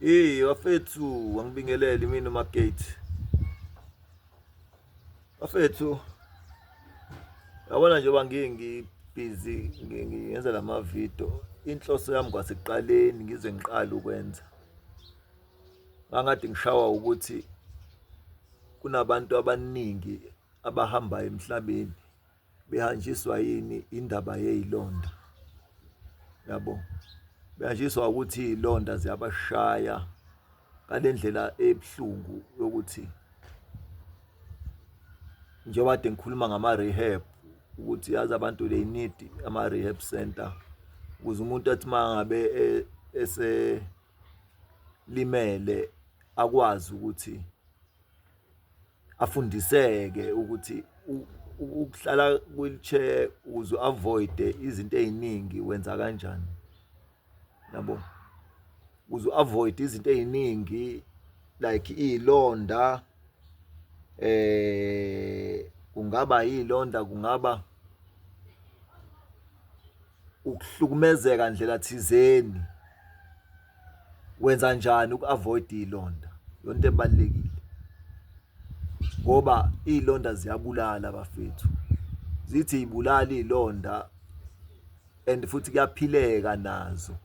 Hey, wafethu wangibingeleli mina uMagate. Wafethu yabona nje bangingi busy ngiyenza lama video. Inhloso yami kwasekuqaleni ngize ngiqala ukwenza. Ngangade ngishawa ukuthi kunabantu abaningi abahamba emhlabeni behanjiswa yini indaba yeyilonda yabo behanjiswa ukuthi iyilonda ziyabashaya ngalendlela ebuhlungu yokuthi njengoba kade ngikhuluma ngama rehab ukuthi yazi abantu they need ama rehab center ukuze umuntu athi mangabe e, ese limele akwazi ukuthi afundiseke ukuthi ukuhlala wheelchair uze avoid izinto eziningi wenza kanjani yabo uze avoid izinto eziningi like izilonda eh kungaba izilonda kungaba ukuhlukumezeka ndlela thizeni wenza njani uku-avoid iy'londa yonto into ebalulekile ngoba iy'londa ziyabulala bafethu zithi y'bulala iy'londa and futhi kuyaphileka nazo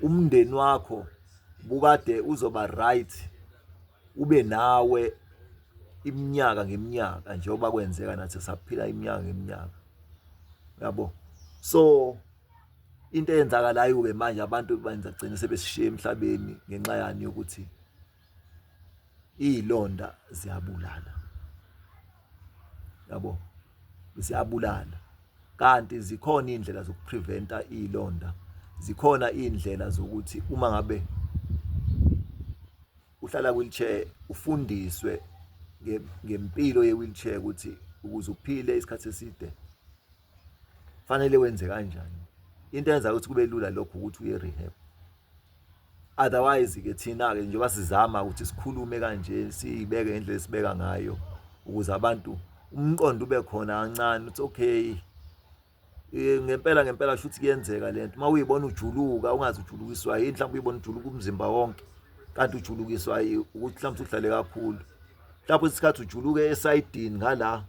umndeni wakho bukade uzoba right ube nawe iminyaka ngeminyaka njengoba kwenzeka nathi saphila iminyaka ngeminyaka yabo so into eyenzakalayo-ke manje abantu benza gcine sebesishiye emhlabeni ngenxa yani yokuthi iy'londa ziyabulala yabo ziyabulala kanti zikhona iy'ndlela zokupreventa iy'londa zikhona iy'ndlela zokuthi uma ngabe uhlala kwi-wheelchair ufundiswe ngempilo ye-wheelchair ukuthi ukuze uphile isikhathi eside fanele wenze kanjani into yenza ukuthi kube lula lokho ukuthi uye rehab otherwise ke thina ke njengoba sizama ukuthi sikhulume kanje sibeke ngendlela esibeka ngayo ukuze abantu umqondo ube khona kancane uthi okay eh, ngempela ngempela shuthi kuyenzeka lento uma uyibona ujuluka ungazi ujulukiswa yini mhlawumbe uyibona ujuluka umzimba wonke kanti ujulukiswa ukuthi mhlawumbe uhlale kakhulu mhlawumbe isikhathi ujuluke esayidini ngala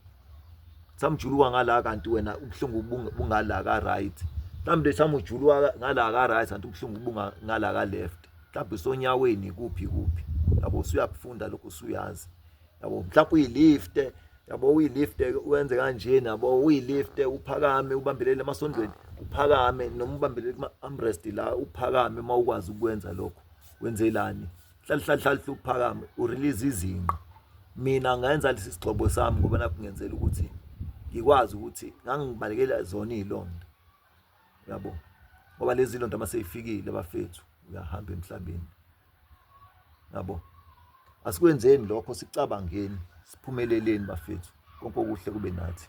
samjuluka ngala kanti wena ubuhlungu bungala ka right mhlawumbe samujuluka ngala ka right kanti ubuhlungu bunga ngala ka left mhlawumbe sonyaweni kuphi kuphi yabo usuyakufunda lokho usuyazi yabo mhlawumbe uyilift yabo uyilift wenze kanje nabo uyilift uphakame ubambelele emasondweni uphakame noma ubambelele kuma armrest la uphakame uma ukwazi ukwenza lokho wenzelani hlalihlalihlalihla uphakame urelease izinqa mina ngenza lesi sigxobo sami ngoba nakho ngenzela ukuthi ngikwazi ukuthi ngangibalekela zona iy'londa yabo ngoba lezi londa uma seyifikile bafethu uyahamba emhlabeni yabo asikwenzeni lokho sicabangeni siphumeleleni bafethu konke okuhle kube nathi